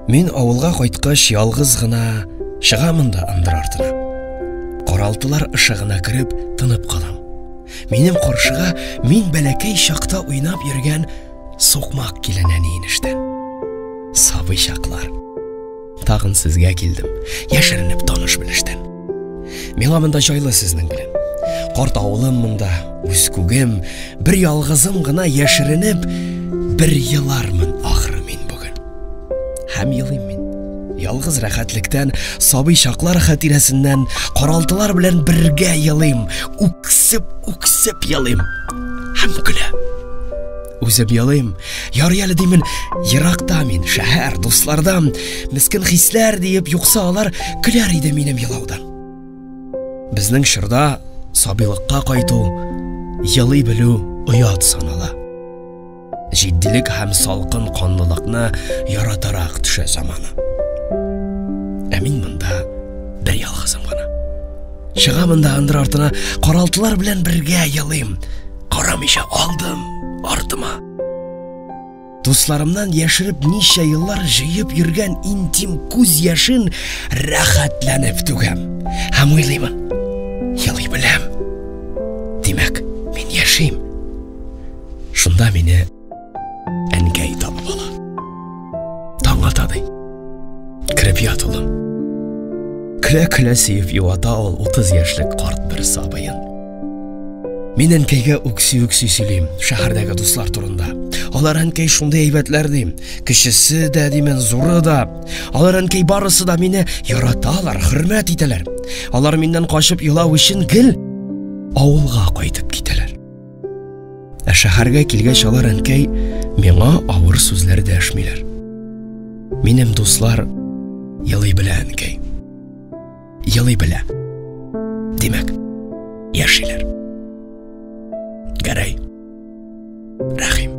Мин авылга кайткач ялгыз гына чыгамын да ындыр артына. Каралтылар ышыгына кереп тынып калам. Минем каршыга мин бәләкәй чакта уйнап йөргән сукмак килен әни иништән. Сабый чаклар. Тагын сезгә килдем, яшеренеп таныш-белештән. Миңа монда җайлы сезнең белән. Карт авылым монда, үз күгем, бер ялгызым гына яшеренеп, бер елармын ахры мин бүген. Һәм елыйм мин. Ялгыз рәхәтлектән, сабый чаклар хатирәсеннән, каралтылар белән бергә елыйм, үксеп-үксеп елыйм. Һәм көлә. Үзем елыйм. Ярый әле димен, еракта мин, шәһәр, дуслардан, мескен хисләр диеп, юкса алар көләр иде минем елаудан. Безнең чорда сабыйлыкка кайту, елый белү оят санала. Җитдилек һәм салкын канлылыкны яратарак төшә заманы. Ә мин монда бер ялгызым гына. Чыгамын да андыр артына, каралтылар белән бергә елыйм. Карамыйча алдым артыма. Дусларымнан яшереп ничә еллар җыеп йөргән интим күз яшен рәхәтләнеп түгәм. Һәм уйлыймын, елый беләм. Димәк, мин яшим. Шунда мине Әнкәй табып ала. Таң ата ди. Кереп ят улым. Көлә-көлә сөеп юата ул 30 яшьлек карт бер сабыен. Мин әнкәйгә үкси-үкси сөйлим, шәһәрдәге дуслар турында. Алар әнкәй шундый әйбәтләр дим. Кечесе дә димен, зуры да. Алар әнкәй барысы да мине яраталар, хөрмәт итәләр. Алар миннән качып елау өчен гел авылга кайтып китәләр. Ә шәһәргә килгәч алар әнкәй миңа авыр сүзләр дәшмиләр. Минем дуслар елый белә әнкәй. Елый белә. Димәк, яшиләр. Гәрәй. Рәхим.